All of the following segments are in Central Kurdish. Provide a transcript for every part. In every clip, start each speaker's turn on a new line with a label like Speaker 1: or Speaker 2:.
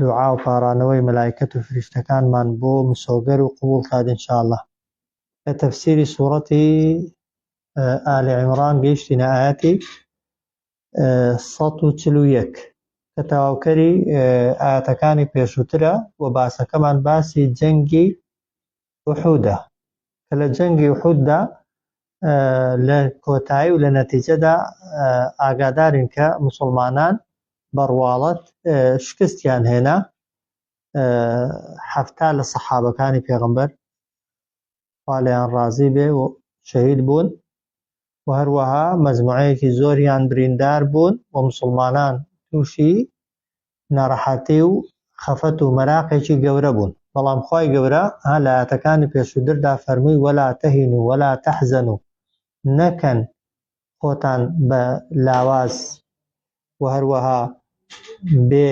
Speaker 1: دوعا و پاڕانەوەی مەلایکەت و فریشتەکانمان بۆ مسۆگەر و قبوڵ کات ان شاء اللە. لە تەفسیری سوڕەتی ئال عمران گەیشتینە ئایەتی سەد و چل و یەک کە تەواوکەری ئایەتەکانی پێشووترە و باسەکەمان باسی جەنگی ئوحودە کە لە جەنگی ئوحوددا لە کۆتایی و لە نەتیجەدا ئاگادارین کە موسڵمانان بە ڕواڵەت شکستیان هێنا حەفتا لە سەحابەکانی پێغەمبەر خوا لێیان ڕازی بێ و شەهید بوون و هەروەها مەزموعەیەکی زۆریان بریندار بوون و مسلمانان تووشی نارەحەتی و خەفەت و مەراقێکی گەورە بوون، بەڵام خوای گەورە ها لایەتەکانی پێشووتردا فەرمووی ولا تهنوا ولا تحزنوا نەکەن خۆتان بە لاواز و هەروەها بێ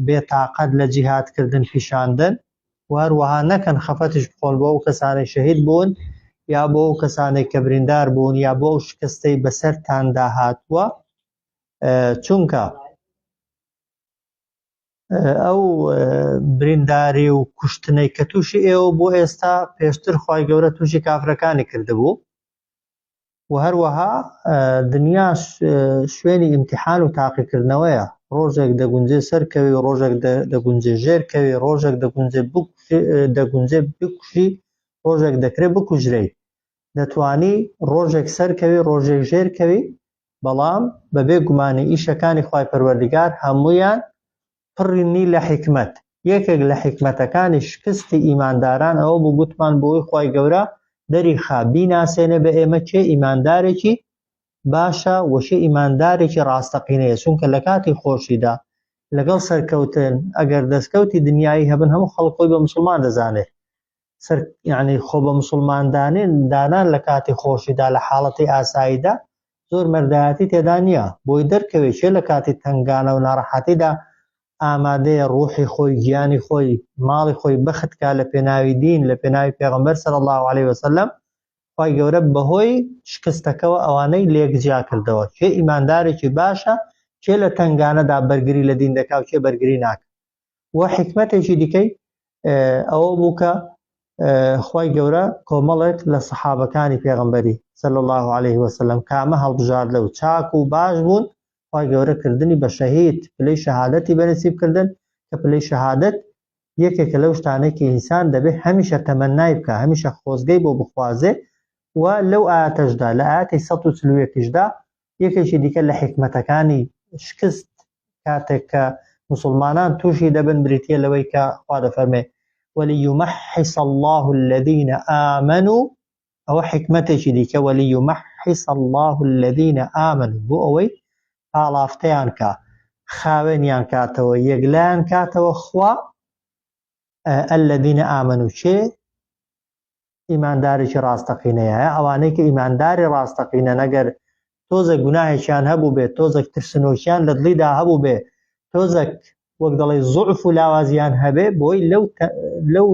Speaker 1: بێ تاقەت لە جیهاد کردن پیشاندن و هەروەها نەکەن خەفەتیش بخۆن بۆ ئەو کەسانەی شەهید بوون یا بۆ ئەو کەسانێک کە بریندار بوون یا بۆ ئەو شکستەی بەسەرتاندا هاتووە چونکە ئەو برینداری و کوشتنەی کە تووشی ئێوە بۆ ئێستا پێشتر خی گەورە تووشی کافرەکانی کردبوو و هەروەها دنیا شوێنی ئیمتحان و تاقیکردنەوەیە ڕۆژێک دەگونجێ سەرکەوی و ڕۆژێک دەگونجێ ژێرکەوی ڕۆژێک دەگونجێ دەگونجێ بکوژی ڕۆژێک دەکرێت بکوژرەیت دەتوانی ڕۆژێک سەرکەوی ڕۆژێک ژێر کەوی بەڵام بەبێ گومانی ئیشەکانی خوای پەروەردگار هەموویان پڕنی لە حیکمەت یەکێک لە حیکمەتەکانی شکستی ئیمانداران ئەوە بوو گوتمان بۆی خوای گەورە دەریخا بیناسێنێ بە ئێمە چێ ئیماندارێکی باشە وەشێ ئیماندارێکی ڕاستەقینەیە چونکە لە کاتی خۆشیدا لەگەڵ سەرکەوتن ئەگەر دەستکەوتی دنیایی هەبن هەموو خەڵکۆی بە مسلمان دەزانێت سەر یعنی خۆ بە مسلماندانێن دانان لە کاتی خۆشیدا لە حاڵەتی ئاساییدا زۆر مەردایەتی تێدا نییە بۆی دەرکەوێت چێ لە کاتی تنگانە و ناڕەحەتیدا ئامادەیە ڕوحی خۆی گیانی خۆی ماڵی خۆی بەختکە لە پێناوی دین لە پێناوی پێغمبەر سەر الله عليه وسلم خی گەورە بەهۆی شکستەکەەوە ئەوانەی لێک جیا کردەوە چێ ئیماندارێکی باشە چێ لە تنگانەدا بەرگری لە دین دەکاو چێ بەرگری ناکە و حیکمەتێکی دیکەی ئەوە بوو کە خوای گەورە کۆمەڵێک لە سەحابەکانی پێغمبەری سەل الله عليه وسلم کامە هەڵبژاردە و چاک و باش بوون خوای گەورە کردنی بە شەهید پلەی شەهادەتی بەنسیب کردن کە پلەی شەهادەت یەکێکە لەو شتانێکی ئینسان دەبێت هەمیشە تەمەنای بکە هەمیشە خۆزگەی بۆ بخوازێ و لەو ئاتەشدا لە ئاتی 1940دا یەکێکی دیکە لە حیکمەتەکانی شکست کاتێک کە مسلمانان تووشی دەبن بریتە لەوەی کە خوا دەفەرمێ وليمحص الله الذين آمنوا ئەوە حکمتێکی دیکە وليمحص الله الذين آمنوا بۆ ئەوەی پاڵافتەیان کا خاوێنیان کاتەوە یەکلایان کاتەوە خوا الذين آمنوا چێ ئیماندارێکی ڕاستەقینەیە ئەوانەی کە ئیمانداری ڕاستەقینە نەگەر تۆزە گوناهێکیان هەبوو بێت تۆزەک ترسنۆکیان لە دڵیدا هەبوو بێ تۆزەک وەک دەڵێ زۆعف و لاوازیان هەبێ بۆی لەو لەو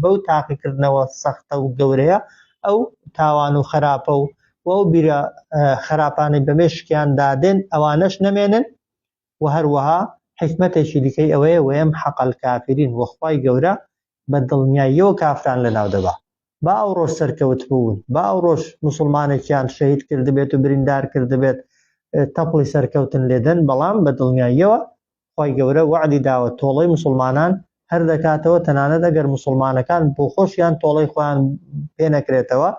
Speaker 1: بەو تاقیکردنەوە سەختە و گەورەیە ئەو تاوان و خراپە و وە بیرە خراپانەی بەمێشکیان دادێن ئەوانەش نەمێنن و هەروەها حکمتێکی دیکەی ئەوەیە وەم حەقل کافرین وەخوای گەورە بە دڵنیاییەوە کافران لەناو دەبا. با ئەو ڕۆژ سەرکەوت بوون، با ئەو ڕۆژ موسڵمانێکیان شەهید کردبێت و بریندار کردبێت، تەپڵی سەرکەوتن لێ دەن، بەڵام بە دڵنیاییەوە خوای گەورە وەعدی داوە تۆڵەی موسڵمانان هەر دەکاتەوە، تەنانەت ئەگەر موسڵمانەکان بۆخۆشیان تۆڵەی خۆیان پێ نەکرێتەوە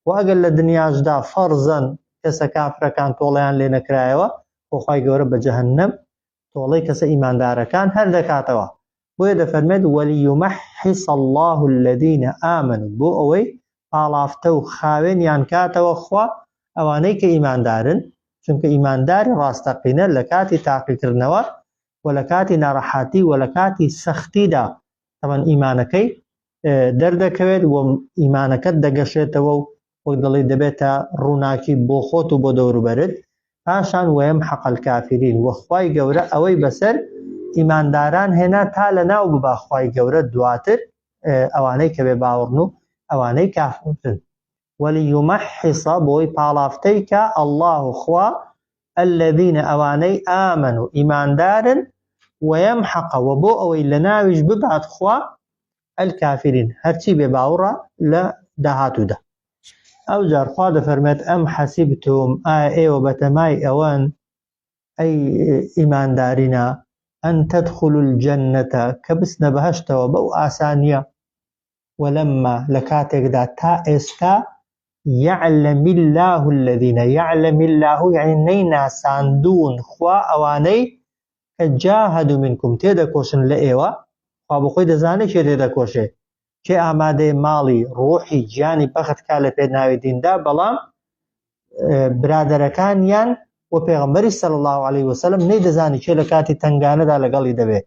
Speaker 1: و ئەگەر لە دنیاشدا فەڕزەن کەسە کافرەکان تۆڵەیان لێ نەکرایەوە، خۆ خوای گەورە بە جەهەنەم تۆڵەی کەسە ئیماندارەکان هەر دەکاتەوە بۆیە دەفەرمێت وەلیمەحیس الله الذین ئامن بۆ ئەوەی پاڵافتە و خاوێنیان کاتەوە خوا ئەوانەی کە ئیماندارن چونکە ئیمانداری ڕاستەقینە لە کاتی تاقیکردنەوە و لە کاتی ناڕەحاتی و لە کاتی سەختیدا تەمەن ئیمانەکەی دەردەکەوێت و ئیمانەکەت دەگەشێتەوە و وەک دەڵێی دەبێتە ڕووناکی بۆ خۆت و بۆ دەوروبەرت پاشان وەیەم حەقەل کافرین وە خوای گەورە ئەوەی بەسەر ئیمانداران هێنا تا لە ناو ببا خوای گەورە دواتر ئەوانەی کە بێ باوەڕن و ئەوانەی کافرن ولیمحص بۆی پاڵافتەی کا اللە خوا الذین ئەوانەی آمنوا ئیماندارن ویمحق وە بۆ ئەوەی لەناویش ببات خوا الکافرین هەرچی بێ باوڕە لە داهاتوودا ئەو جار خوا دەفەرمێت ئەم حەسیبتم ئایا ئێوە بەتەمای ئەوەن ئەی ئیماندارینا ئەن تدخل الجنەتە کە بچنە بەهشتەوە بەو ئاسانیە ولما لە کاتێکدا تا ئێستا یعلم الله الذین یعلم الله یعنی نەی ناساندون خوا ئەوانەی کە جاهدوا منکم تێدەکۆشن لە ئێوە خوا بۆ خۆی دەزانێت کێ تێدەکۆشێ کێ ئامادەی ماڵی ڕۆحی گیانی بەخت کا لە پێناوی دیندا بەڵام برادەرەکانیان و پێغمبەری سەل الله عليه وسلم نەی دەزانی کێ لە کاتی تنگانەدا لەگەڵی دەبێت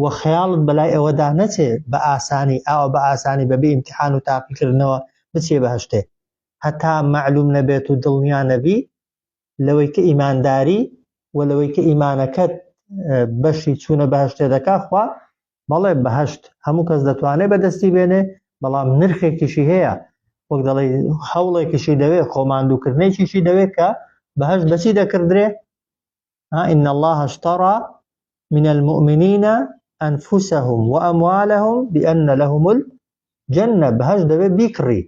Speaker 1: و خەیاڵت بەلای ئەوەدا نەچێ بە ئاسانی ئاوە بە ئاسانی بەبێ ئیمتحان و تاقیکردنەوە بچێ بەهشتێ هەتا معلوم نەبێت و دڵنیا نەبی لەوەی کە ئیمانداری و لەوەی کە ئیمانەکەت بەشی چوونە بەهشتێ دەکا خوا بەڵێ بەهشت هەموو کەس دەتوانێت بەدەستی بێنێ بەڵام نرخێکیشی هەیە وەک دەڵی هەوڵێکیشی دەوێت خۆماندووکردنێکیشی دەوێت کە بەهش بەچی دەکردرێ ها ان الله اشترى من المؤمنین انفسهم و اموالهم بان لهم الجنه بهش دەبێت بیکڕی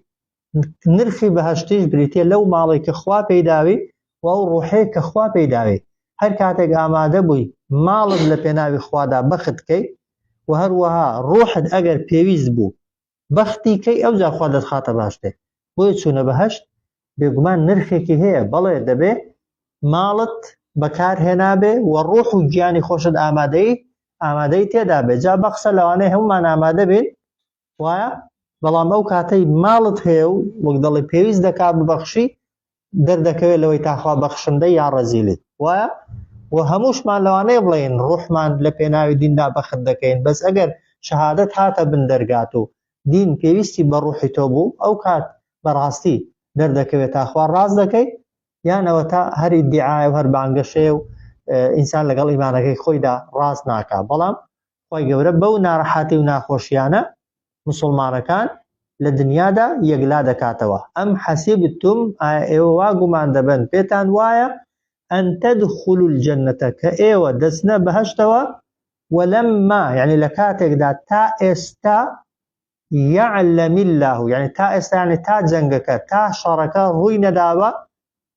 Speaker 1: نرخی بەهشتیش بریتە لەو ماڵێک کە خوا پێداوی و ئەو ڕوحێ کە خوا پێداوی هەر کاتێک ئامادە بووی ماڵت لە پێناوی خوادا بەختکەی و هەروەها ڕوحت ئەگەر پێویست بوو بەختی کەی ئەوجا خوا دەتخاتە باشتر بۆیە چوونە بەهەشت بێگومان نرخێکی هەیە بەڵێ دەبێ ماڵت بەکارهێنابێ و ڕۆح و گیانی خۆشت ئامادەی ئامادەی تێدا بێ جا بەقسە لەوانەیە هەمومان ئامادە بین وایە بەڵام ئەو کاتەی ماڵت هەیە و وەک دەڵێ پێویست دەکا ببەخشی دەردەکەوێت لەوەی تاخوا بەخشندە یا ڕەزیلی وایە و هەمووشمان لەوانەیە بڵێن ڕوحمان لە پێناوی دیندا بەخت دەکەین بەس ئەگەر شەهادەت هاتە بن دەرگات و دین پێویستی بە ڕوحی تۆ بوو ئەو کات بەڕاستی دەردەکەوێت تاخوا ڕاز دەکەی یانەوە تا هەری دیعاە و هەر بانگەشەیە و ئینسان لەگەڵ ئیمانەکەی خۆیدا ڕاست ناکە بەڵام خوای گەورە بەو نارەحاتی و ناخۆشیانە موسڵمانەکان لە دنیادا یەکلا دەکاتەوە ئەم حەسیبتم ئایا ئێوە وا گومان دەبن پێتان وایە ئەن تدخلوا الجنة کە ئێوە دەچنە بەهەشتەوە ولما یعنی لە کاتێکدا تا ئێستا یعلم الله یعنی تا ئێستا یعنی تا جەنگەکە تا شەڕەکە ڕووی نەداوە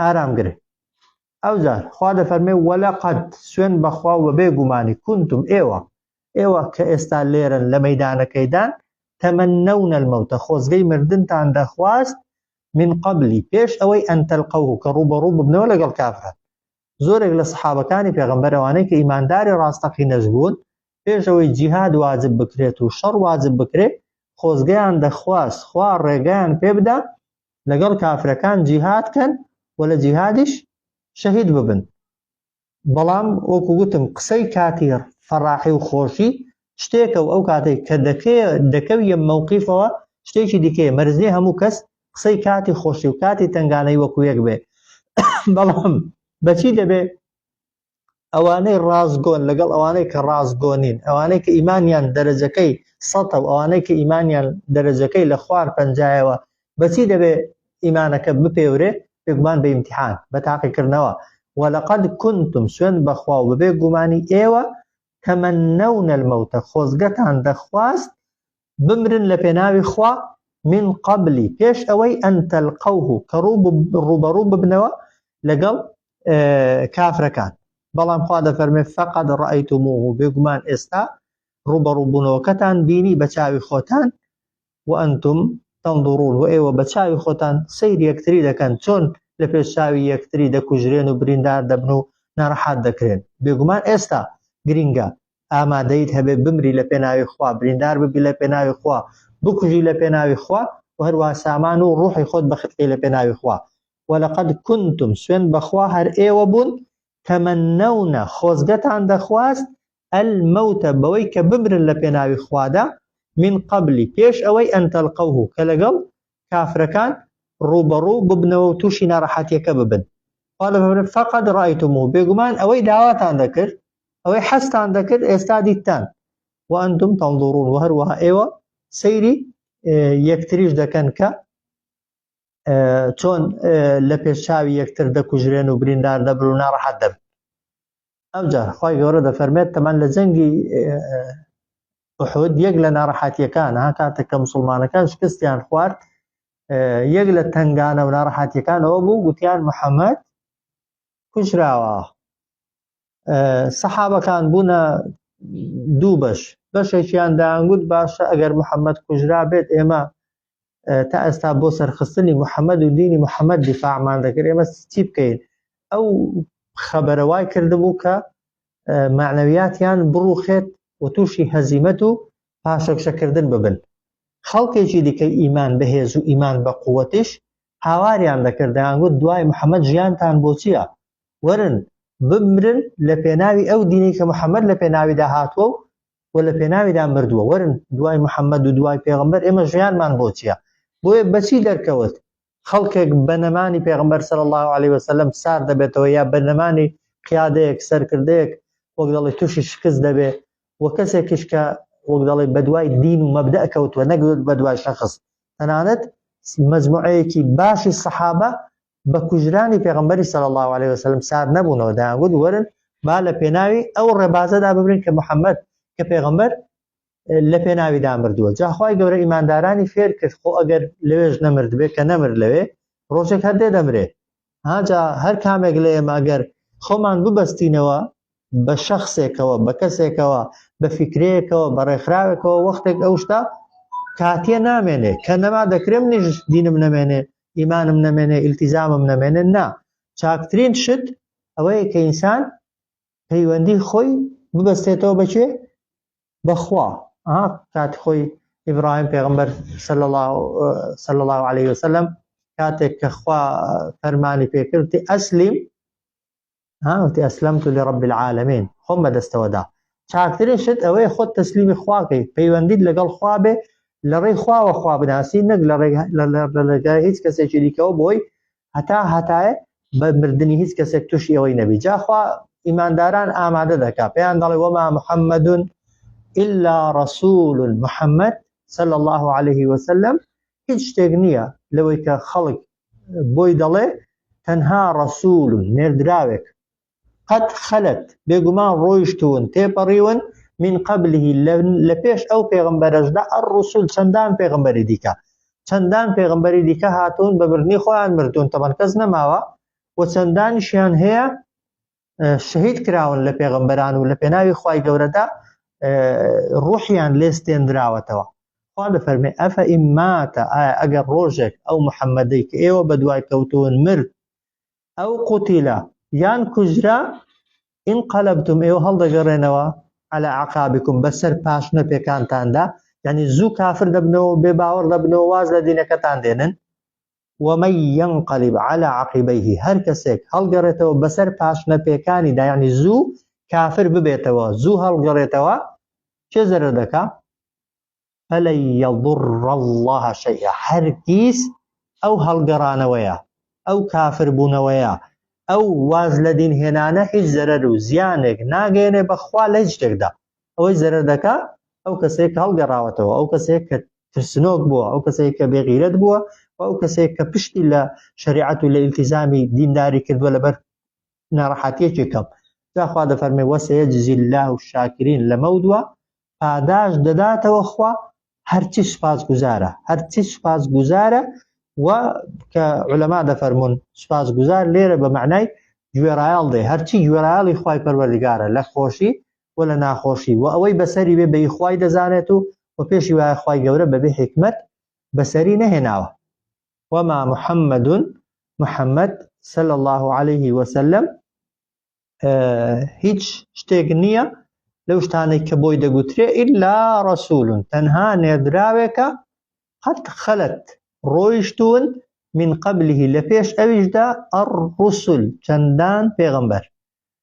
Speaker 1: ئارامگر ئەوجار خوا دەفەرمێ وەلە قەت سوێن بەخوا و بێ گومانی کونتم ئێوە ئێوە کە ئێستا لێرن لە مەدانەکەیدان تەمەەن نەونەل مەوتە خۆزگەی مردنتان دەخواست من قبلی پێش ئەوەی ئەتەلقە و کە ڕوو بە ڕوو ببنەوە لەگەڵ کافران زۆرێک لە سەحابەکانی پێغمبەرەوانەی کە ئیمانداری ڕاستەقی نەزبوون پێشەوەی جیهاد واجب بکرێت و شەڕ واجب بکرێت خۆزگەیان دەخواست خوا ڕێگەیان پێ بدا لەگەڵ کافرەکان جیهاد کەن و لە جیهادیش شەهید ببن بەڵام وەکو گوتم قسەی کاتی فەڕاحی و خۆشی شتێکە و ئەو کاتێک کە دەکێ دەکەویە مەوقیفەوە شتێکی دیکەیە مەرزنی هەموو کەس قسەی کاتی خۆشی و کاتی تنگانەی وەکو یەک بێ بەڵام بەچی دەبێ ئەوانەی ڕاستگۆن لەگەڵ ئەوانەی کە ڕاستگۆنین ئەوانەی کە ئیمانیان دەرەجەکەی سەتە و ئەوانەی کە ئیمانیان دەرەجەکەی لە خوار پەنجایەوە بەچی دەبێ ئیمانەکە بپێورێ بێگومان بە ئیمتحان بە تاقیکردنەوە وەلقد کنتم سوێن بەخوا و بەبێ گومانی ئێوە تەمەنەونە المەوتە خۆزگەتان دەخواست بمرن لە پێناوی خوا من قبل پێش ئەوەی ئەن تەلقەوه کە ڕووبەڕوو ببنەوە لەگەڵ کافرەکان بەڵام خوا دەفەرمێ فقط ڕئیتموه بێگومان ئێستا ڕوبەڕوبوونەوەکەتان بینی بە چاوی خۆتان وئەنتم تەندڕون و ئێوە بە چاوی خۆتان سیر یەکتری دەکەن چۆن لە پێش چاوی یەکتری دەکوژرێن و بریندار دەبن و ناڕەحات دەکرێن بێگومان ئێستا گرینگە ئامادەیت هەبێت بمری لە پێناوی خوا بریندار ببی لە پێناوی خوا بکوژی لە پێناوی خوا و هەروە سامان و ڕوحی خۆت بەخرکەی لە پێناوی خوا وەلقد کنتم سوێن بەخوا هەر ئێوە بوون تەمەنەونە خۆزگەتان دەخواست ئەلمەوتە بەوەی کە بمرن لە پێناوی خوادا من قبلی پێش ئەوەی ئەنتەلقەوه کە لەگەڵ کافرەکان ڕووبەڕوو ببنەوە و تووشی ناڕەحەتییەکە ببن. خوا لە فەرمێ، فقد رایتموه، بێگومان ئەوەی داواتان دەکرد، ئەوەی حەزتان دەکرد، ئێستا دیتتان، وانتم تنظرون، و هەروەها ئێوە سەیری یەکتریش دەکەن کە چۆن لە پێش چاوی یەکتر دەکوژرێن و بریندار دەبن و ناڕەحەت دەبن. ئەوجار خی گەورە دەفەرمێت تەمان لە جەنگی ئوحود یەک لە ناڕەحاتیەکان ها کاتێک کە مسلمانەکان شکستیان خوارد یەک لە تنگانە و ناڕەحاتیەکانەوە بوو گوتیان محەممەد کوژراوە سەحابەکان بوونە دوو بەش بەشێکیان داگوت باشە ئەگەر محەممەد کوژرا بێت ئێمە تا ئێستا بۆ سەرخستنی محەممەد و دینی محەممەد دیفاعمان دەکرد ئێمە چی بکەین ئەو خەبەرە وای کردبوو کە معنەویاتیان بڕوخێت و تووشی هەزیمەت و پاشەکشەکردن ببن خەڵکێکی دیکە ئیمان بەهێز و ئیمان بە قووەتیش هاواریان دەکرد دەیانگوت دوای محەممەد ژیانتان بۆچیە وەرن بمرن لە پێناوی ئەو دینی کە محەممەد لە پێناویدا هاتووە و و لە پێناویدا مردووە وەرن دوای محەممەد و دوای پێغمبەر ئێمە ژیانمان بۆ چییە بۆیە بەچی دەرکەوت خەڵکێک بە نەمانی پێغمبەر سەر الله عليه وسلم سار دەبێتەوە یا بە نەمانی قیادەیەک سەرکردەیەک وەک دەڵی تووشی شکست دەبێ و کەسێکیش کە وەک دەڵی بەدوای دین و مەبدە کەوتووە نەگوت بەدوای شخص تەنانەت مجموعەیەکی باشی سەحابە بە کوژرانی پێغەمبەری صلی اللە علیه وسلم سار نەبوونەوە دەیان گوت وەرن با لە پێناوی ئەو ڕێبازەدا ببرین کە محەممەد کە پێغەمبەر لە پێناوی دامردووە جاخوای گەورە ئیماندارانی فێر کرد خۆ ئەگەر لەوێش نەمرد بێت کە نەمر لەوێ ڕۆژێک هەر دێ دەمرێ هاجا هەر کامێک لە ئێمە ئەگەر خۆمان ببەستینەوە بە شخصێکەوە بە کەسێکەوە بە فکرەیەکەوە بە ڕێکخراوێکەوە وەختێک ئەو شتا کاتیە نامێنێ کە نەما دەکرێم نیش دینم نەمێنێ ئیمانم نەمێنێ ئیلتیزامم نەمێنێ نا چاکترین شت ئەوەیە کە ئینسان پەیوەندی خۆی ببەستێتەوە بەکێ بەخوا کات خۆی ئیبراهیم پێغمبەر صلی الله عليه وسلم کاتێک کە خوا فەرمانی پێکردی ئەسلیم ها وتی اسلمت لرب العالمین خۆم بەدەستەوە دا چاکترین شت ئەوەیە خۆت تەسلیمی خواکەی پەیوەندیت لەگەڵ خوا بێ لە ڕێی خواوە خوا بناسی نەک لە ڕێگای هیچ کەسێکی دیکەەوە بۆی هەتا هەتایە بە مردنی هیچ کەسێک تووشی ئەوەی نەبی جاخوا ئیمانداران ئامادە دەکا پێیان دەڵێ وەما محەممەدون إلا رسول محمد صلى الله عليه وسلم هیچ شتێک نییە لەوەی کە خەڵک بۆی دەڵێ تەنها ڕەسول نێردراوێک قەد خەلت بێگومان ڕۆیشتون تێپەڕیون من قبلهی لە پێش ئەو پێغمبەرەشدا ئەر ڕسول چەندان پێغمبەری دیکە چەندان پێغمبەری دیکە هاتوون بە بردنی خۆیان مردوون تەبەن کەس نەماوە و چەندانیشیان هەیە شەهید کراون لە پێغەمبەران و لە پێناوی خوای گەورەدا ڕوحیان لێستێنراوەتەوە خوا دەفەرمێ ئەفە ئیماتە ئایا ئەگەر ڕۆژێک ئەو محەممەدەی کە ئێوە بە دوای کەوتون مرد ئەو قوتیلا یان کوژرا ئین قەلبتم ئێوە هەڵدەگەڕێنەوە على عقابكم بەسەر پاش نەپێکانتاندا ینی زوو کافر دەبنەوە بێ باوەڕ دەبنەوە واز لە دینەکەتان دێنن ومن ینقلب علی عقبیه هەر کەسێک هەڵگەڕێتەوە بەسەر پاشنە پێکانیدا یەعنی زوو کافر ببێتەوە زوو هەڵگەڕێتەوە کێ زەرەر دەکا فلن یضر اللە شیئا هەرگیز ئەو هەڵگەڕانەوەیە ئەو کافر بوونەوەیە ئەو واز لە دین هێنانە هیچ زەرەر و زیانێک ناگەێنێ بەخوا لە هیچ شتێکدا ئەوەی زەرەر دەکا ئەو کەسەیە کە هەڵگەڕاوەتەوە، ئەو کەسەیە کە ترسنۆک بووە، ئەو کەسەیە کە بێغیرەت بووە و ئەو کەسەیە کە پشتی لە شەریعەت و لە ئیلتیزامی دینداری کردووە لەبەر ناڕەحەتیەکی کەم جاخوا دەفەرمێ وەسەیەجزی الله و شاکرین لەمە دووە پاداش دەداتەوە خوا هەرچی سوپاس گوزارە هەرچی سوپاس گوزارە و کە علەما دەفەرمونون سوپاس گوزار لێرە بە معنای گوێڕایال دێ هەرچی گوێڕایالی خی پەروەردگارە لە خۆشی و لە ناخۆشی و ئەوەی بەسەری بێ بەی خوای دەزانێت و و پێشی وایە خوای گەورە بەبێ حیکمەت بەسەری نەهێناوە وما محمد محمد صلى الله عليه وسلم هیچ شتێک نییە لەو شتانێک کە بۆی دەگوترێ ئللا ڕسولون تەنها نێردراوێکە قەت خەلت ڕۆیشتون من قبله لە پێش ئەویشدا ئەڕسول چەندان پێغمبەر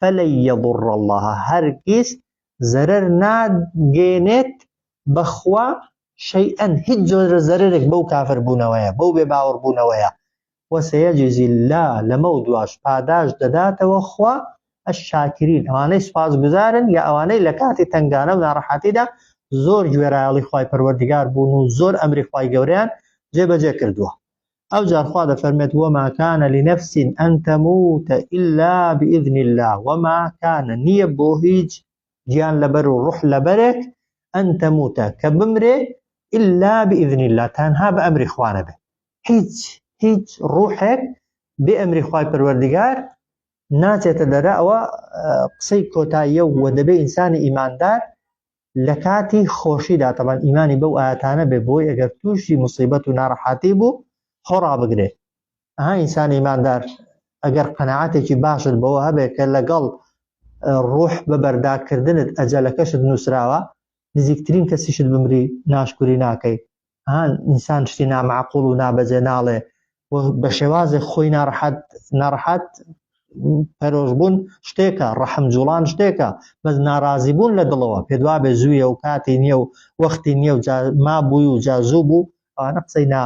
Speaker 1: فلن یضر اللە هەرگیز زەرەر ناگەیەنێت بە خوا شەیئەن هیچ جۆرە زەرەرێک بەو کافر بوونەوەیە بەو بێ باوەڕ بوونەوەیە وسیجزی اللە لەمە و دواش پاداش دەداتەوە خوا الشاکرین ئەوانەی سوپاس گوزارن یا ئەوانەی لە کاتی تەنگانە و ناڕەحاتیدا زۆر گوێرایەڵی خوای پەروەردگار بوون و زۆر ئەمری خوای گەوریان جێبەجێ کردووە ئەوجار خوا دەفەرمێت وما کان لنفس ان تموت الا باذن الله وما کان نییە بۆ هیچ گیان لەبەر و ڕوح لەبەرێک ان تموت کە بمرێ الا باذن الله تەنها بە ئەمری خوانە بێت هیچ هیچ ڕوحێک بێ ئەمری خوای پەروەردگار ناچێتە دەرە ئەوە قسەی کۆتاییە و دەبێ ئینسانی ئیماندار لە کاتی خۆشیدا تەبان ئیمانی بەو ئاەتانە بێ بۆی ئەگەر تووشی مصیبەت و ناڕەحاتی بوو خۆ ڕابگرێ ئەها ئینسان ئیماندار ئەگەر قەنەعاتێکی باشت بەوە هەبێت کە لەگەڵ ڕۆح بە بەرداکردنت ئەجەلەکەشت نووسراوە نزیکترین کەسیشت بمری ناشکوری ناکەی ها ئینسان شتی نامعقول و نابەجێ ناڵێ و بە شێوازێک خۆی ناڕحەت ناڕحەت پەرۆشبوون شتێکە ڕەحم جوڵان شتێکە بەس ناڕازی بوون لە دڵەوە پێدوا بێ زوویە و کاتی نییە و وەختی نییە و ما بووی و جازوو بوو ئەوانە قسەی نا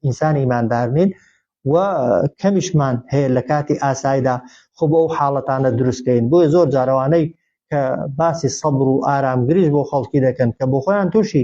Speaker 1: ئینسانی ئیماندار نین و کەمیشمان هەیە لە کاتی ئاسایدا خۆ بە ئەو حاڵەتانە دروستکەین بۆیە زۆر جارەوانەی کە باسی سەبر و ئارامگریش بۆ خەڵکی دەکەن کە بۆ خۆیان تووشی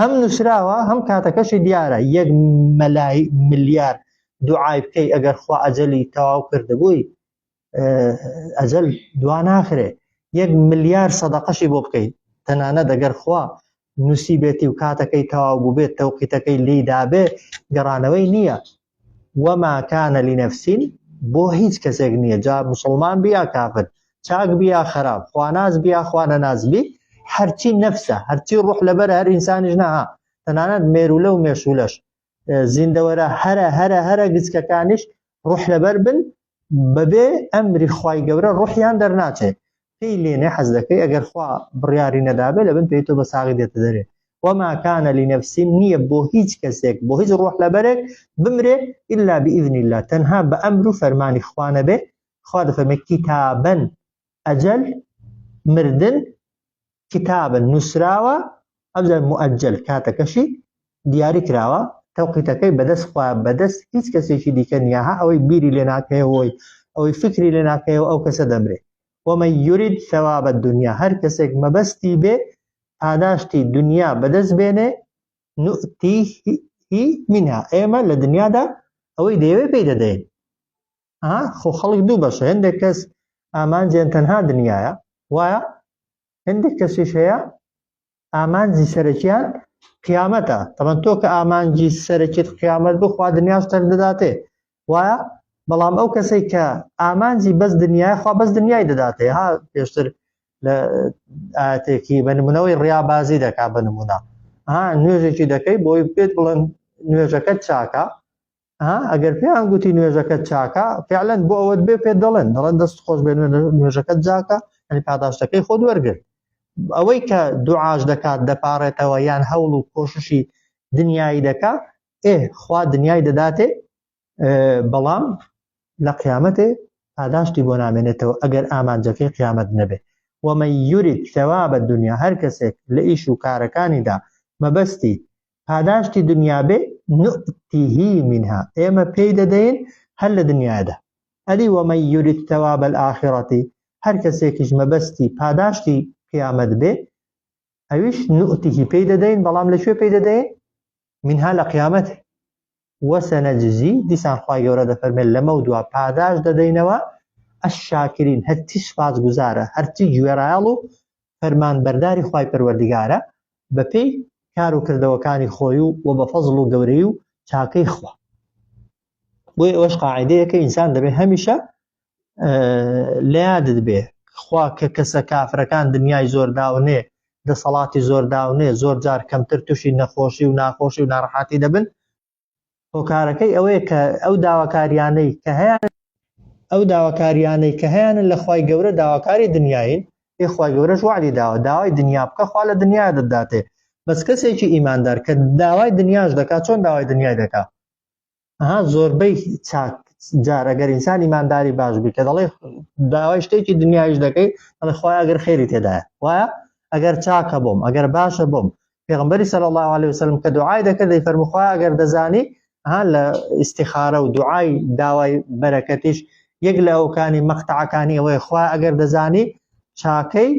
Speaker 1: هەم نووسراوە هەم کاتەکەشی دیارە یەک مەلای ملیار دوعای بکەی ئەگەر خوا ئەجەلی تەواو کردبووی ئەجل دوا ناخرێ یەک ملیار سەدەقەشی بۆ بکەیت تەنانە دەگەر خوا نووسی بێتی و کاتەکەی تەواو بوو بێت تەوقیتەکەی لیدابێ گەڕانەوەی نییە وما کان لنفس بۆ هیچ کەسێک نیە جا موسڵمان بی یا کافر چاک بی یا خراپ خواناس بی یا خوانەناس بی هەرچی نەفسە هەرچی ڕوح لەبەر هەر ئینسانیش نەها تەنانەت مێرولە و مێشولەش زیندەوەرە هەرە هەرە هەرە گچکەکانیش ڕوح لەبەر بن بەبێ ئەمری خوای گەورە ڕوحیان دەرناچێ پێی لێنێ حەز دەکەی ئەگەر خوا بڕیاری نەدابێ لەبن پێی تۆ بە ساغی دێتە دەرێ وما كان لنفس نییە بۆ هیچ کەسێک بۆ هیچ ڕۆح لەبەرێک بمرێ إلا بإذن الله تەنها بە ئەمر و فەرمانی خوانەبێ خوا دەفەرمێ کتابەن ئەجەل مردن کتابن نووسراوە ئەجەل مؤجل کاتەکەشی دیاری کراوە تەوقیتەکەی بەدەست خوا بەدەست هیچ کەسێکی دیکە نیە ها ئەوەی بیری لێ ناکەیەوەی ئەوەی فکری لێ ناکەیەوە ئەو کەسە دەمرێ وەمە یورید ثوابە دنیا هەر کەسێک مەبەستی بێ پاداشتی دنیا بەدەست بێنێ نوتی هی منها ئێمە لە دنیادا ئەوەی دەیەوێ پێی دەدەین ها خۆ خەڵک دوو بەشە هەندێک کەس ئامانجیان تەنها دنیاە وایە هەندێک کەسیش هەیە ئامانجی سەرەکیان قیامەتە تەمەەن تۆ کە ئامانجی سەرەکیت قیامەت بخوا دنیاش تەر دەداتێ وایە بەڵام ئەو کەسێک کە ئامانجی بەس دنیای خوا بەس دنیای دەداتێ ها پێشتر لە ئاتێکی بە نمونەوەی ڕیابازی دەکا بە نمونە ها نوێژێکی دەکەی بۆی پێت بڵند نوێژەکەت چاکە ها ئەگەر پێیان گوتی نوێژەکەت چاکە فعلەن بۆ ئەوەت بێ پێ دەڵێن دەڵێن دەست خۆش بێن نوێژەکەت جاکە ئەنی پاداشتەکەی خۆت وەرگرت ئەوەی کە دوعاش دەکات دەپارێتەوە یان هەوڵ و کۆششی دنیایی دەکا ئێ خوا دنیای دەداتێ بەڵام لە قیامەتێ پاداشتی بۆ نامێنێتەوە ئەگەر ئامانجەکەی قیامەت نەبێ ومە یورید ثواب دنیا هەر کەسێک لە ئیش و کارەکانیدا مەبەستی پاداشتی دنیا بێ نوئتیهی منها ئێمە پێی دەدەین هەر لە دنیادا ئەدی وەمەن یورید ثواب الآخرەتی هەر کەسێکیش مەبەستی پاداشتی قیامەت بێ ئەویش نوئتیهی پێی دەدەین بەڵام لە کوێ پێی دەدەین منها لە قیامەت وسنجزی، دیسان خوای گەورە دەفەرمێت لەمەو دوا پاداشت دەدەینەوە الشاکرین هەرچی سوپاسگوزارە هەرچی گوێڕایەڵ و فەرمانبەرداری خوای پەروەردگارە بەپێی کار و کردەوەکانی خۆی و و بە فەزڵ و گەورەی و چاکەی خوا بۆی ئەوەش قاعدەیە کە ئینسان دەبێت هەمیشە لە یادت بێ خوا کە کەسە کافرەکان دنیای زۆر داونێ دەسەڵاتی زۆر داونێ زۆر جار کەمتر تووشی نەخۆشی و ناخۆشی و ناڕحاتی دەبن هۆکارەکەی ئەوەیە کە ئەو داواکاریانەی کە هەیە ئەو داواکاریانەی کە هەیەە لە خی گەورە داواکاری دنیاین ئێخوای گەورەش وعدی داوە داوای دنیا بکە خوا لە دنیا دەداتێ بەس کەسێکی ئیماندار کە داوای دنیاش دەکات چۆن داوای دنیای دەکات ها زۆربەی چاک جار ئەگەر ئینسان ئیمانداری باش بی کە دەڵێ داوای شتێکی دنیایش دەکەی ئەڵێ خخوای ئەگەر خێری تێدایە وایە ئەگەر چاکە بۆم ئەگەر باشە بۆم پێغمبەری سەل الله عليه وسلم کە دوعای دەکرد دەی فەرمخوا ئەگەر دەزانی ها لە ئیسیخارە و دوعای داوای بەرەکەتیش یەک لە ئەوکانی مەختەعەکانی ئەوەی خوا ئەگەر دەزانی چاکەی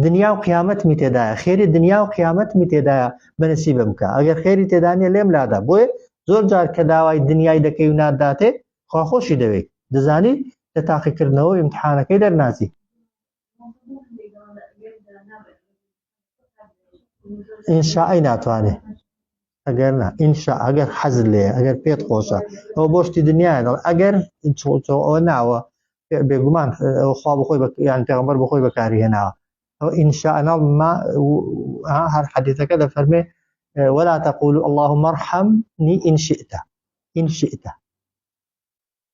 Speaker 1: دنیا و قیامەتمی تێدایە خێری دنیا و قیامەتمی تێدایە بەنسی بم بکە ئەگەر خێری تێدانە لێم لادا بۆیە زۆر جار کە داوای دنیای دەکەی و ناداتێ خواخۆشی دەوێت دەزانی لە تاقیکردنەوە امتحانەکەی دەرناچی ئینشاءی ناتوانێ ئەگەر نا ئینشا ئەگەر حەز لێ ئەگەر پێت خۆشە ئەو بۆشتی دنیا دەڵ ئەگەر ئەوە ناوە بێگومان خوا بخۆی یان پێغمبەر بخۆی بەکاری هێناوە ئەو ئینشا ئەناڵ ما هەر حەدیثەکە دەفەرمێ ولا تقول اللهم ارحمني إن شئت إن شئت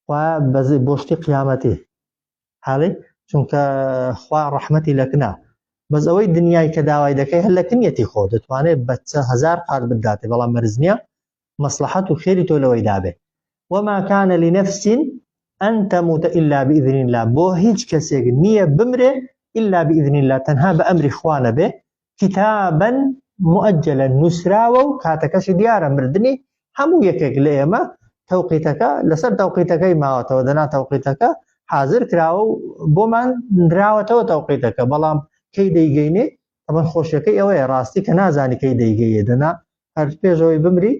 Speaker 1: خوا بەزێ بۆشتی قیامەتی حاڵی چونکە خوا ڕەحمەتی لەکنا بەس ئەوەی دنیای کە داوای دەکەی هەر لەکنیەتی خۆ دەتوانێت بەچە هزار قات بداتێ بەڵام مەرزنیە مەسلحەت و خێری تۆ لەوەی دابێ وما كان لنفس أن تموت إلا بإذن الله بۆ هیچ کەسێک نییە بمرێ إلا بإذن الله تەنها بە ئەمری خوانە بێ کتابا موئجلا نوسراوە و کاتەکەشی دیارە مردنی هەموو یەکێک لە ئێمە تەوقیتەکە لەسەر تەوقیتەکەی ماوەتەوە دەنا تەوقیتەکە حازر کراوە و بۆمان نراوەتەوە تەوقیتەکە بەڵام کەی دەیگەینێ ئەمە خۆشیەکەی ئەوەیە ڕاستی کە نازانی کەی دەیگەیە دەنا هەر پێشەوەی بمری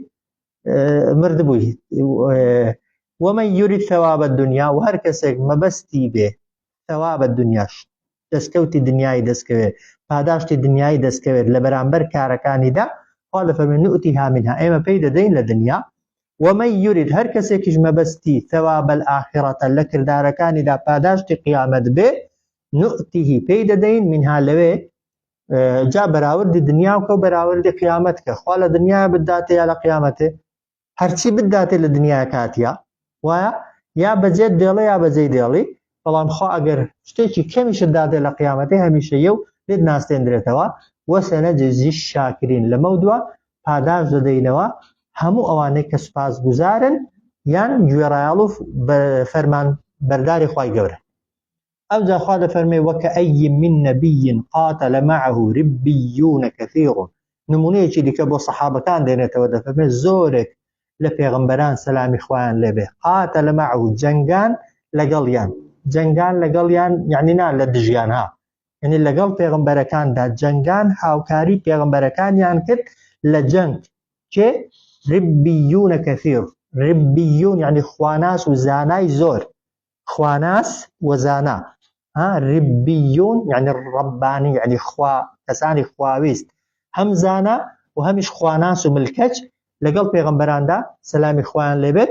Speaker 1: مردبووی ومە یوریت ثوابە دنیا و هەر کەسێک مەبەستی بێ ثەوابە دنیاش دەستکەوتی دنیای دەستکەوێت پاداشتی دنیای دەستکەوێت لە بەرامبەر کارەکانیدا خوا لە فەرمی نوتیها منها ئێمە پێی دەدەین لە دنیا ومە یورید هەر کەسێکیش مەبەستی ثەوابەل ئاخرەتە لە کردارەکانیدا پاداشتی قیامەت بێ نوتیهی پێی دەدەین منها لەوێ جا بەراوردی دنیا وکە و بەراوردی قیامەت کە خوا لە دنیا بداتێ یا لە قیامەتێ هەرچی بداتێ لە دنیاە کاتیە وایە یا بەجێت دێڵێ یا بەجێی دێڵی بەڵام خوا ئەگەر شتێکی کەمیشت دادێ لە قیامەتی هەمیشە یە و لێت ناستێندرێتەوە وەسێنە جێزی شاکرین لەمە دووە پاداش دەدەینەوە هەموو ئەوانەی کە سوپاس گوزارن یان گوێڕایاڵ و فەرمان بەرداری خی گەورە ئەوجا خوا دەفەرمێ وەکەئەی من نەبی قاتل معه ربیون کثیر نمونەیەکی دیکە بۆ سەحابەکان دێنێتەوە دەفەرمێ زۆرێک لە پێغمبەران سەلامی خوایان لێبێ قاتل معه جەنگان لەگەڵیان جەنگان لەگەڵیان یعنی نا لە دژیان ها یعنی لەگەڵ پێغمبەرەکاندا جەنگان هاوکاری پێغمبەرەکانیان کرد لە جەنگ کێ ربیون کثیر ربیون یعنی خواناس و زانای زۆر خواناس و زانا ها ربیون یعنی ربانی یعنی خوا کەسانی خواویست هەم زانا و هەمیش خواناس و ملکەچ لەگەڵ پێغەمبەراندا سەلامی خوایان لێبێت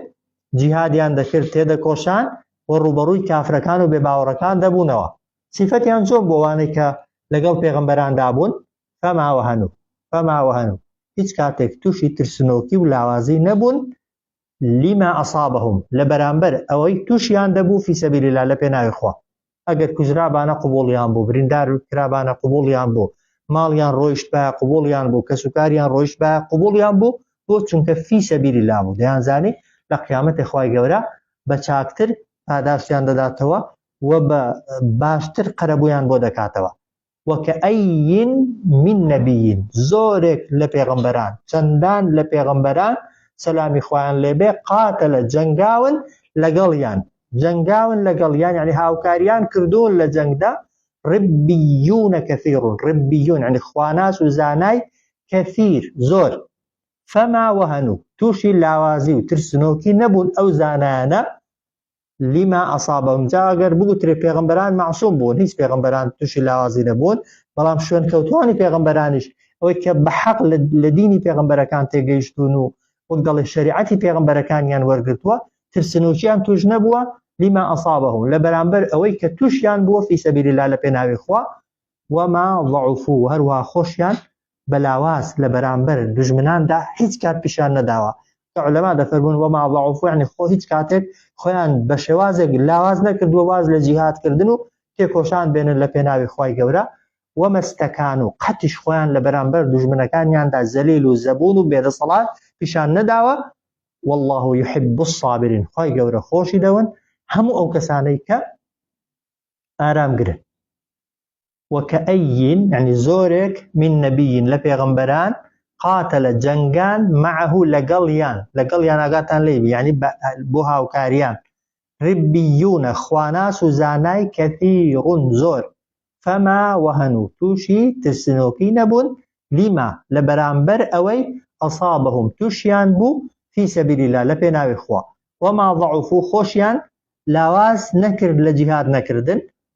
Speaker 1: جیهادیان دەکرد تێدەکۆشان و ڕوبەڕووی کافرەکان و بێباوەڕەکان دەبوونەوە سیفەتیان زۆر بۆوانەی کە لەگەڵ پێغمبەراندا بوون فەماوە هەنوو فەماوە هەنوو هیچ کاتێک تووشی ترسنۆکی و لاوازی نەبوون لما اصابهم لەبەرامبەر ئەوەی توشیان دەبوو فی سبیل الله لە پێناوی خوا ئەگەر کوژرابانە قوبوڵیان بوو بریندار کرابانە قوبوڵیان بوو ماڵیان ڕۆیشت بە قوبوڵیان بوو کەسوکاریان ڕۆیشت بە قوبوڵیان بوو بۆ چونکە فی سەبیل الله بوو دەیانزانی لە قیامەتی خوای گەورە بە چاکتر پاداشتیان دەداتەوە و بە باشتر قەرەبوویان بۆ دەکاتەوە وکەئەی من نبی زۆرێک لە پێغەمبەران چەندان لە پێغەمبەران سەلامی خوایان لێبێ قاتەلە جەنگاون لەگەڵیان جەنگاون لەگەڵیان یعنی هاوکاریان کردوون لە جەنگدا ربیون کثیر ربیون یعنی خواناس و زانای کثیر زۆر فما وهنو تووشی لاوازی و ترسنۆکی نەبوون ئەو زانایانە لما اصابهم جا گەر بگوترێ پێغمبەران معصوم بوون هیچ پێغمبەران تووشی لاوازی نەبوون بەڵام شوێن کەوتوانی پێغمبەرانیش ئەوەی کە بە حەق لە دینی پێغمبەرەکان تێگەیشتون و وەک دەڵێ شریعەتی پێغمبەرەکانیان وەرگتووە ترسنوچیان توش نەبووە لما اصابهم لە بەرامبەر ئەوەی کە توشیان بووە فی سەبیل لا لە پێناوی خوا وما ضعفو هەروها خۆشیان بە لاواز لە بەرامبەر دوژمناندا هیچ کات پیشان نەداوە کە علەما دەفەرمون وما ضعفوا یعنی خۆ هیچ کاتێک خۆیان بە شێوازێک لاواز نەکردووە واز لە جیهادکردن و تێکۆشان بێنن لە پێناوی خوای گەورە و مەستەکان و قەتیش خۆیان لە بەرامبەر دوژمنەکانیاندا زەلیل و زەبون و بێدەسەڵات پیشان نەداوە والله يحب الصابرين خوای گەورە خۆشی دەون هەموو ئەو کەسانەی کە ئارام گرن وەکەئەیین یەعنی زۆرێک من نەبیین لە پێغەمبەران قاتەلە جەنگان مەعه لەگەڵیان لەگەڵیان ئاگاتان لێی بی یەعنی بۆ هاوکاریان ربیونە خواناس و زانای کەثیڕون زۆر فەما وەهەنو تووشی ترسنۆکی نەبوون لیما لە بەرامبەر ئەوەی ئەسابەهم تووشیان بوو فی سەبیل اللە لە پێناوی خوا وەما ضعفو خۆشیان لاواز نەکرد لە جیهاد نەکردن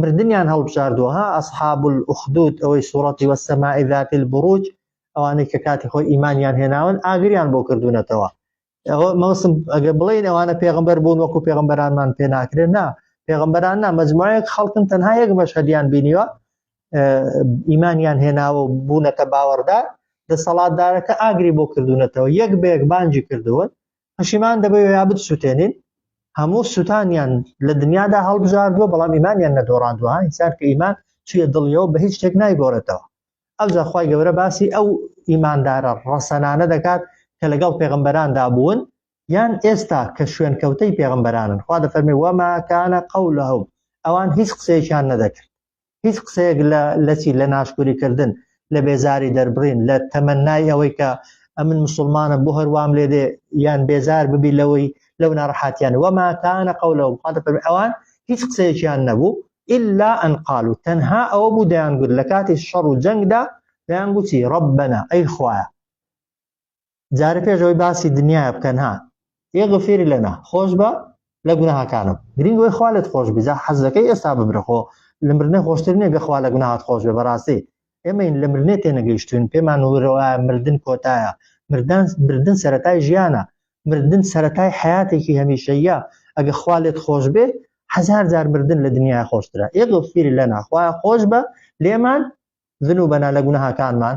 Speaker 1: مردنیان هەڵبژاردووە ها ئەسحاب الأخدود ئەوەی سوڕەتی وەسەماء ذات البروج ئەوانەی کە کاتی خۆی ئیمانیان هێناون ئاگریان بۆ کردوونەتەوە ئەوە مەوسم ئەگە بڵێن ئەوانە پێغمبەر بوون وەکو پێغمبەرانمان پێ ناکرێت نا پێغمبەران نا مجموعەیەک خەڵکن تەنها یەک مەشهدیان بینیوە ئیمانیان هێناوە بوونەتە باوەڕدار دەسەڵاتدارەکە ئاگری بۆ کردوونەتەوە یەک بەیەک بانجی کردوون پەشیمان دەبێ یا بتسووتێنین هەموو سووتانیان لە دنیادا هەڵبژاردووە بەڵام ئیمانیان نەدۆڕاندووە ئینسان کە ئیمان چیە دڵیەوە بە هیچ شتێک نایگۆڕێتەوە ئەو جاخوای گەورە باسی ئەو ئیماندارە ڕەسەنانە دەکات کە لەگەڵ پێغمبەراندا بوون یان ئێستا کە شوێن کەوتەی پێغمبەرانن خوا دەفەرمی وەماکانە قەولەهم ئەوان هیچ قسەیەکیان نەدەکرد هیچ قسەیەک لە لەچی لە ناشکوری کردن لە بێزاری دەربڕین لە تەمەنای ئەوەی کە ئەمن مسلمانە بۆ هەروام لێ دێ یان بێزار ببی لەوەی لەو ناڕحاتیان وەماکانە قەولە و بخاتە پەر ئەوان هیچ قسەیەکیان نەبوو ئللا ئەنقال و تەنها ئەوە بوو دەیانگوت لە کاتی شەڕ و جەنگدا دەیانگوتی ڕبەنە ئەی خوایە جارێ پێش ئەوەی باسی دنیاە بکەن ها یە غفیر لەنا خۆش بە لە گوناهەکانم گرنگ وی خوالت خۆش بزە حەزەکەی ئێستا ببرخۆ لە مرنە خۆشتر نیە گەخوا لە گوناهات خۆش بە بەڕاستی ئێمەین لە مرنێ تێنەگەیشتوین پێمان ورەوە مردن کۆتایە مردان بردن سەتای ژیانە مردن سەتای حیاتێکی هەمیشەیە ئەگە خوالت خۆش بێ هزار جار مردن لە دنیا خۆشترە ئێ غفیر لەنا خوای خۆش بە لێمان ذنوبنا لە گوناهەکانمان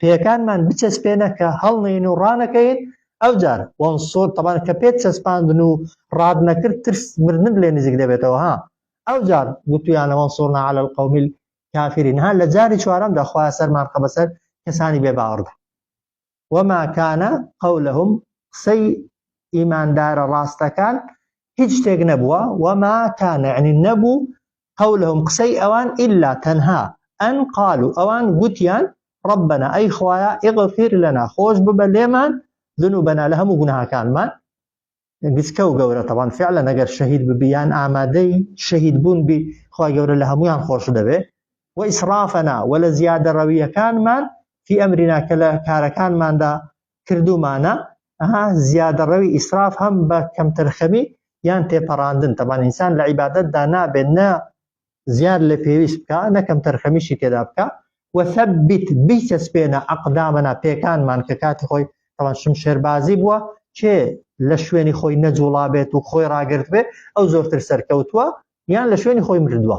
Speaker 1: پێیەکانمان بچەسپێنە کە هەڵنێین و ڕانەکەین ئەوجار وەنسۆر تەبان کە پێت چەسپاندن و ڕات نەکرد ترس مردنت لێ نزیک دەبێتەوە ها ئەوجار گوتویانە وەنسۆرنا علی القوم الكافرین ها لە جاری چوارەمدا خوا سەرمان خە بەسەر کەسانی بێ باوەڕدا وما كان قولهم قسەی ئیماندارە ڕاستەکان هیچ شتێک نەبووە وما كان يعني نەبوو قولهم قسەی ئەوان الا تەنها ان قالوا ئەوان گوتیان ربنا ئەی خوایە اغفر لنا خۆش ببە لێمان ذنوبنا لە هەموو گوناهەکانمان گچکە و گەورە تەوان فعلە نەگەر شەهید ببیان ئامادەی شەهید بوون بی خوا گەورە لە هەمویان خۆش دەبێ و ئیسرافەنا و لە زیادە ڕەویەکانمان فی ئەمرینا کە لە کارەکانماندا کردومانە ها زیادەڕەوی ئیسراف هەم بە کەمتەرخەمی یان تێپەڕاندن تەبان ئینسان لە عیبادەت دا نابێت نە زیاد لە پێویست بکە نە کەمتەرخەمیشی تێدا بکە وثبت بیچەسپێنە ئەقدامەنا پێکانمان کە کاتی خۆی تەوان شمشێربازی بووە کێ لە شوێنی خۆی نەجوڵا بێت و خۆی ڕاگرت بێ ئەو زۆرتر سەرکەوتووە یان لە شوێنی خۆی مردووە